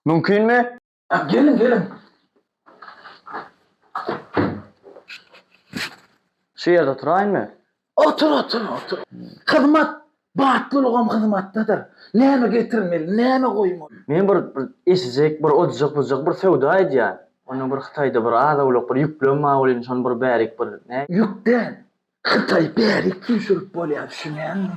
Mümkinmi? A, geliň, geliň. Şu ýerde oturaýynmy? Otur, otur, otur. Hyzmat batlylygam hyzmatdadyr. Näme getirmeli, näme goýmaly? Men bir eşijek, bir ojak-bujak bir söwda edýän. Onda bir Hytaýda bir az-owlak bir ýüklerim bar welin, şony bir bärik bir, näme? Ýük däl, Hytaý bärik süýşürip bolýar düşünýäňmi.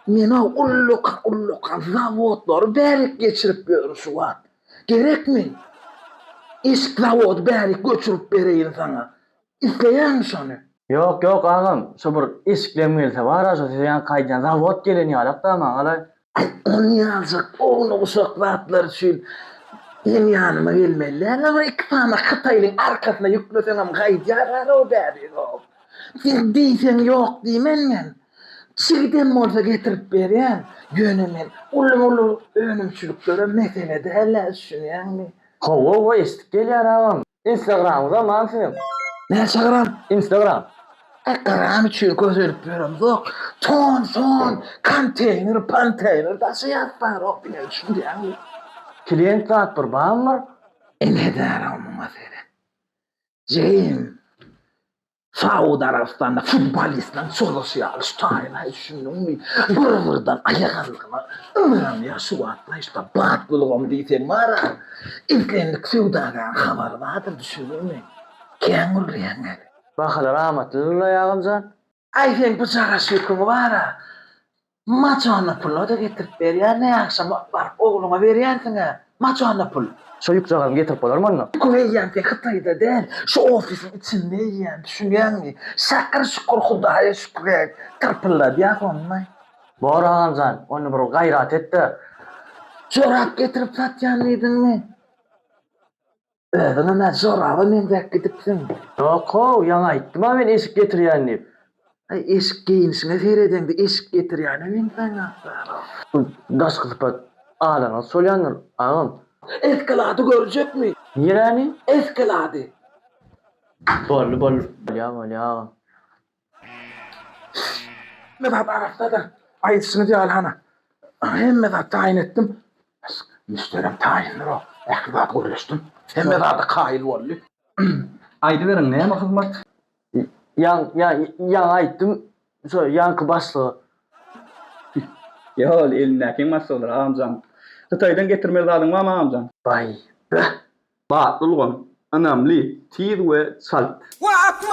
Menä ulluk ulluk zawodlary bärik geçirip ýörün şu wagt. Gerekmi? Eşik zawody bärik göçürip bereýin saňa. Isleýäňmi şony? Ýok ýok agam, şo bir eşiklem gelse bar-a şo size ýaňky aýdýan zawod gelen ýalak-da maňalaý. Ony ýazjak ogly guşak zatlar üçin meň ýanyma gelmeli däl agam iki sany hytaýlyň arkasyna ýükleseňem gaýdýar ara o bäbegow sen diýseň ýok diýmen men çigidem bolsa getirip berýän ýöne men uly uly önümçiliklere mesele däl-ä düşünýäňmi. Hawa hawa eşidip gelýär agam. Instagramyňyza man siziň. Näçe gram? Instagram. E gram üçin kösenip ýöremzok. Ton, son, konteýner, ponteýner daşy ýazyp barok diýmegi düşünýäňmi? Klient zat bir bamyr? Ine edärow muňa seret. Jeým. Saud Arabystanda futbolistlaryň çozuşy ýaly şu taýyna hiç düşündiňmi? Birbirden aýak aldygyna ynanýar şu wagtlar işte batlylygam diýseň bar-a. Islendik söwdagäriň habary bardyr düşündiňmi? Kän gürleýäň näme? Bahalar amatlydyr-la Ýagymjan. Aý seň bu jaraş ýüküň bar-a. Maçanda pul-a-da getirip berýär, ne agşam baryp ogluňa berýänsiň-ä, maçanda pul. Şo ýükjagazyny getirip bolarmy onda? Pul eýýäm sen Hytaýda däl, şu ofisiň içinde eýýäň, düşünýäňmi? Şakyr şükür Hudaýa şükür et, tyrpyldadýas onda. Bor agamjan, onda bir gaýrat et-de. Jorap getirip satýan diýdiňmi? Özüňem-ä joraba meňzäp gidipsiň. Ýok-how, ýaňy aýtdym-a men eşik getirýän diýip. Äý, eşik geýnişiňe seredeňde eşik getirýäne meňzäňok-dä-row. Daşky sypat alanyňyz şol ýandyr, agam. Eskelady görjekmi? Niräni? Eskelady. Boldy, boldy. Bolýa, bolýa, agam. Hemme zat arassadyr. Aýdyşyňyz ýaly, hany, hemme zat taýyn etdim. Müşderem taýyndyr-ow. Ähli zat gürleşdim. Hemme zada kaýyl boldy. Aýdyberiň, näme hyzmat? Ýaň, ýaň, ýaňy aýtdym, şo ýaňky başlyga. Ýa-ol, elindäkiň başlygydyr, agam jan. Hytaýdan getirmeli zadyň barmy, agam jan? Baý, bäh, batly ulgam, ynamly, tiz we çalt. Wah, akmyr!